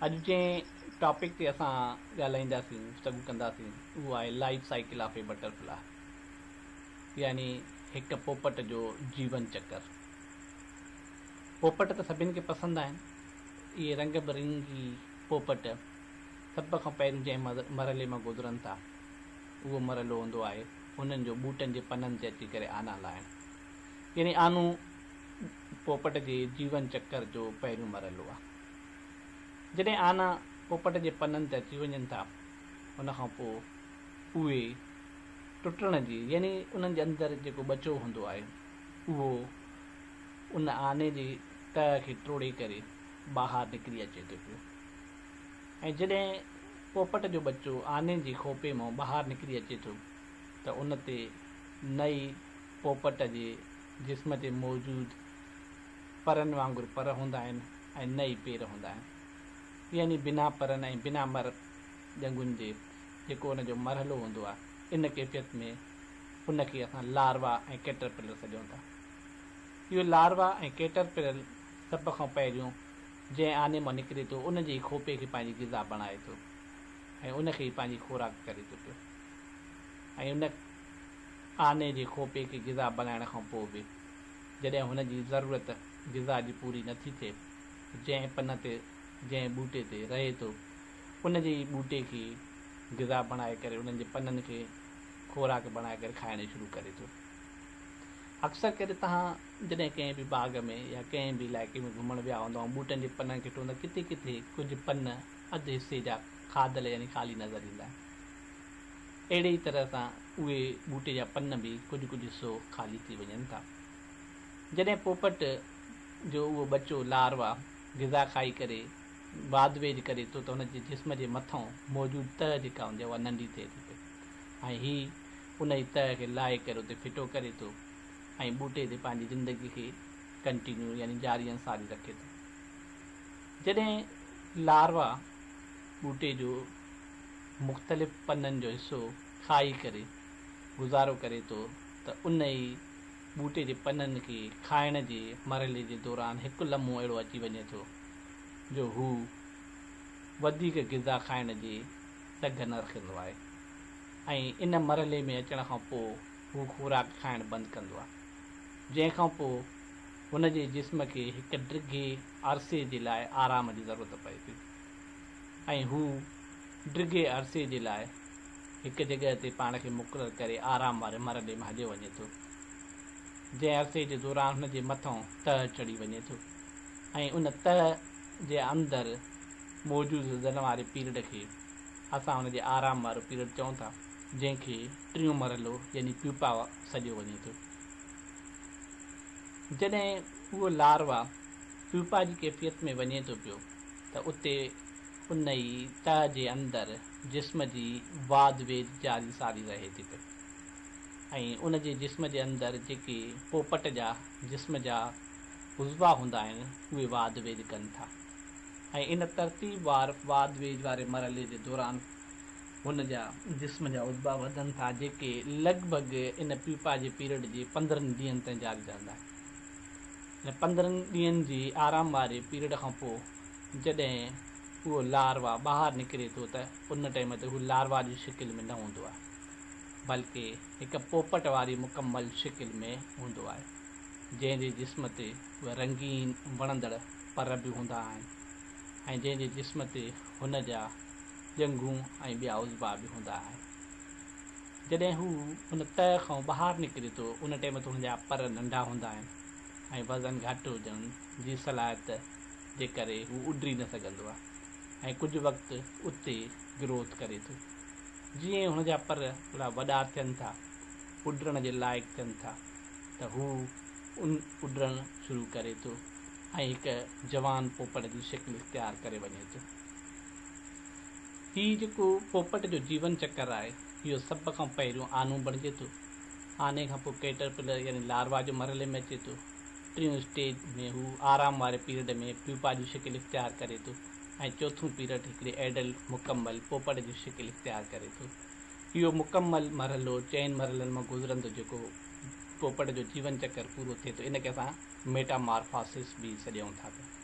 اڄ جنهن ٽاپڪ تي اسان ڳالهائينداسين، گفتگو ڪنداسين، اهو آهي life cycle of a butterfly يعني هڪ پوپٽ جو جيون چڪر. پوپٽ ته سڀني کي پسند آهن. اهي رنگ برنگي پوپٽ سڀ کان پهريون جنهن مرحلي مان گذرن ٿا، اهو مرحلو هوندو آهي انهن جو ٻوٽن جي پنن تي اچي ڪري آنا لاهڻ. يعني آنو پوپٽ جي جيون چڪر جو پهريون مرحلو آهي. جڏهن آنا پوپٽ جي پنن تي اچي وڃن ٿا، ان کان پوء اهي ٽٽڻ جي يعني انهن جي اندر جيڪو ٻچو هوندو آهي، اهو ان آني جي تهه کي ٽوڙي ڪري ٻاهر نڪري اچي ٿو پيو ۽ جڏهن پوپٽ جو ٻچو آني جي کوپي مان ٻاهر نڪري اچي ٿو ته ان تي نئي پوپٽ جي جسم تي موجود پرن وانگر پر هوندا آهن ۽ نه ئي پير هوندا آهن. يعني بنا پرن ۽ بنا مر ڄنگهن جي جيڪو ان جو مرحلو هوندو آهي، ان ڪيفيت ۾ ان کي اسان لاروا ۽ ڪيٽرپلر سڏيون ٿا. اهو لاروا ۽ ڪيٽرپلر سڀ کان پهريون جنهن آني مان نڪري ٿو ان جي ئي کوپي کي پنهنجي غذا بڻائي ٿو ۽ ان کي ئي پنهنجي خوراڪ ڪري ٿو پيو ۽ ان آني جي کوپي کي غذا بڻائڻ کان پوء به جڏهن هن جي ضرورت غذا جي پوري نه ٿي ٿئي، جنهن پن تي، جنهن ٻوٽي تي، رهي ٿو، ان جي ئي ٻوٽي کي غذا بڻائي ڪري، انهن جي پنن کي خوراڪ بڻائي ڪري کائڻ شروع ڪري ٿو. اڪثر ڪري تهان جڏهن ڪنهن به باغ ۾ يا ڪنهن به علائقي ۾ گهمڻ ويا هوندا ۽ ٻوٽن جي پنن کي ٽوئندا، ڪٿي ڪٿي ڪجهه پن اڌ حصي جا کاڌل يعني خالي نظر ايندا آهن. اهڙي ئي طرح سان اهي ٻوٽي جا پن به ڪجهه ڪجهه حصو خالي ٿي وڃن ٿا. جڏهن پوپٽ جو اهو ٻچو، لاروا، غذا کائي ڪري واڌ ويجهه ڪري ٿو ته هن جي جسم جي مٿئون موجود تهه جيڪا هوندي آهي اها ننڍي ٿئي ٿي پئي ۽ هي انهي تهه کي لاهي ڪري اتي ڦٽو ڪري ٿو ۽ ٻوٽي تي پنهنجي زندگي کي ڪنٽينيو يعني جاري ۽ ساري رکي ٿو. جڏهن لاروا ٻوٽي جو مختلف پنن جو حصو کائي ڪري گذارو ڪري ٿو ته ان ئي ٻوٽي جي پنن کي کائڻ جي مرحلي جي دوران هڪ لمحو اهڙو اچي وڃي ٿو جو هو وڌيڪ غذا کائڻ جي ٽگهه نه رکندو آهي ۽ ان مرحلي ۾ اچڻ کان پوء هو خوراڪ کائڻ بند ڪندو آهي جنهن کان پوء هن جي جسم کي هڪ ڊگهي عرصي جي لاء آرام جي ضرورت پئي ٿي. ۽ هو ڊگهي عرصي جي لاء هڪ جڳهه تي پاڻ کي مقرر ڪري آرام واري مھر ڏي مھليو وڃي ٿو، جنهن عرصي جي دوران هن جي مٿئون تهه چڙهي وڃي ٿو ۽ ان تهه جي اندر موجود زدن واري پيرڊ کي اسان ان جي آرام وارو پيرڊ چئون ٿا، جنهن کي ٽيون مرحلو يعني پيوپا سڏيو وڃي ٿو. جڏهن اهو لاروا. پيوپا جي ڪيفيت ۾ وڃي ٿو پيو ته اتي ان ئي تهه جي اندر جسم جي واڌ ويجهه جاري ساري رهي ٿي پئي ۽ ان جي جسم جي اندر جيڪي پوپٽ جا جسم جا عضوا هوندا آهن اهي واڌ ويجهه ڪن ٿا ۽ ان ترتيب وار واڌ ويجهه واري مرحلي جي دوران هن جا جسم جا عضوا وڌن ٿا جيڪي لڳ ڀڳ ان پيوپا جي پيريڊ جي پندرهن ڏينهن تائين جاري رهندا آهن. ۽ پندرهن ڏينهن جي آرام واري پيريڊ کان پوء جڏهن اهو لاروا ٻاهر نڪري ٿو ته ان ٽيم تي هو لاروا جي شڪل ۾ نه هوندو آهي بلڪه هڪ پوپٽ واري مڪمل شڪل ۾ هوندو آهي جنهن جي جسم تي اهي رنگين وڻندڙ پر به هوندا آهن ۽ جنهن جي جسم تي هن جا ڄنگهون ۽ ٻيا عضبا به هوندا آهن جڏهن هو ان تهه کان ٻاهر نڪري ٿو ان ٽيم تي هن جا پر ننڍا هوندا آهن. ۽ وزن گهٽ هجڻ جي صلاحيت جي ڪري هو اڏري نه سگهندو آهي ۽ ڪجهه وقت اتي گروٿ ڪري ٿو جيئن ئي هن جا پر ٿورا وڏا ٿين ٿا اڏرڻ جي لائق ٿين ٿا ته هو ان اڏرڻ شروع ڪري ٿو ۽ هڪ جوان پوپٽ جي شڪل اختيار ڪري وڃي ٿو هي جيڪو پوپٽ جو جيون چڪر آهي اهو سڀ کان پهريون آنو بڻجي ٿو آني کان پوء ڪيٽرپلر يعني لاروا جو مرحلي ۾ اچي ٿو. ٽيون اسٽيج ۾ هو آرام واري پيرڊ ۾ پيوپا جون شڪل اختيار ڪري ٿو ۽ چوٿون پيرڊ هڪڙي ايڊلٽ، مڪمل، پوپٽ جون شڪل اختيار ڪري ٿو. اهو مڪمل مرحلو چئن مرحلن مان گذرندو جيڪو پوپٽ جو جيون چڪر پورو ٿئي ٿو ان کي اسان ميٽامارفاسس به سڏيون ٿا پيا.